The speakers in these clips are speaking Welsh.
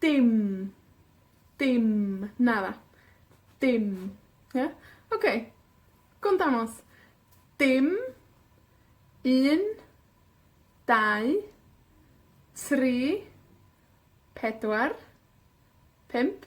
Dim. Dim. Nara. Dim. Ia? Oce. Go' 'n dangos. Dim. Un. Dau. Tri. Pedwar. Pump.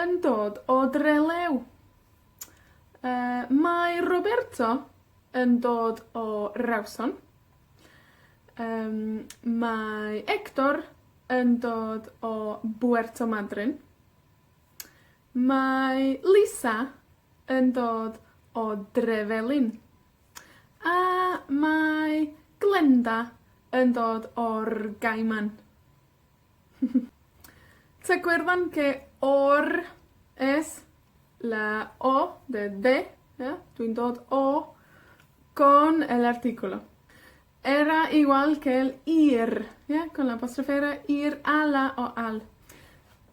yn dod o Drelew. Yy, mae Roberto yn dod o Rawson. Yym, mae Hector yn dod o Buerto Madryn. Mae Lisa yn dod o Drefelin. A mae Glenda yn dod o'r Gaiman. Tŷ Gwerddon lle o'r es la o de de ia? Dwi'n dod o con el artículo. Era igual que el ir ia? Con la apostrophe era ir a la o al.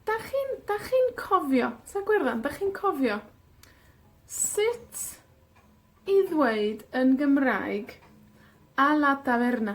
'Dach chi'n, 'dach chi'n cofio, Tŷ Gwerddon, 'dach chi'n cofio sut i ddweud yn Gymraeg, a la taverna?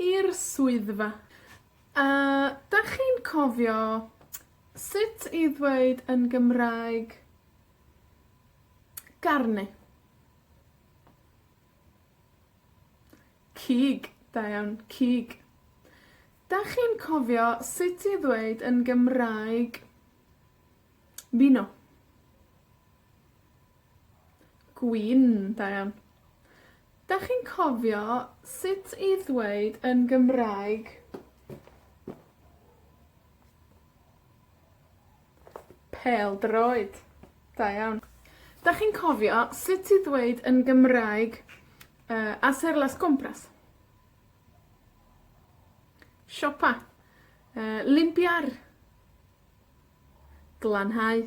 I'r swyddfa. A 'dach chi'n cofio sut i ddweud yn Gymraeg, garni? Cig, da iawn, cig. 'Dach chi'n cofio sut i ddweud yn Gymraeg, mino? Gwin da iawn. 'Dach chi'n cofio sut i ddweud yn Gymraeg, pêl-droed? Da iawn. 'Dach chi'n cofio sut i ddweud yn Gymraeg yy hacer las compras? Siopa. Yy, limpiar. Glanhau.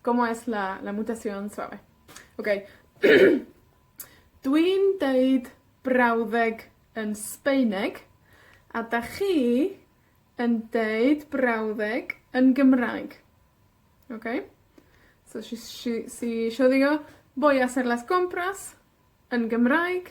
Como es la la mutación suave? Oce. Dwi'n deud brawddeg yn Sbaeneg, a 'dach chi yn deud brawddeg yn Gymraeg. Oce? So si si si isio ddio, voy a hacer las compras yn Gymraeg,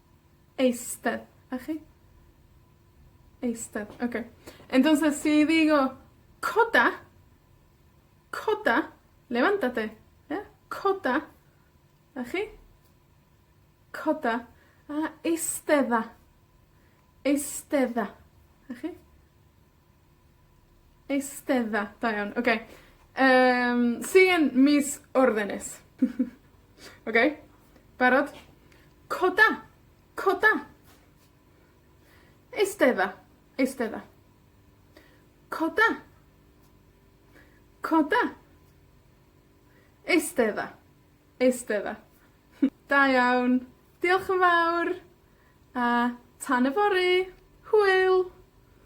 Eistedd. 'Na chi. Eistedd. Oce. Entonces si digo coda, coda, levántate, ie? Coda, 'na chi. Coda, a eistedda. Eistedda. 'Na chi. Eistedda. Da iawn. Oce. Yym, see you yn mis Mawrth Ynys. Oce? Barod? Coda. Coda. Eistedda. Eistedda. Coda. Coda. Eistedda. Eistedda. Da iawn. Diolch yn fawr, a tan yfory. Hwyl!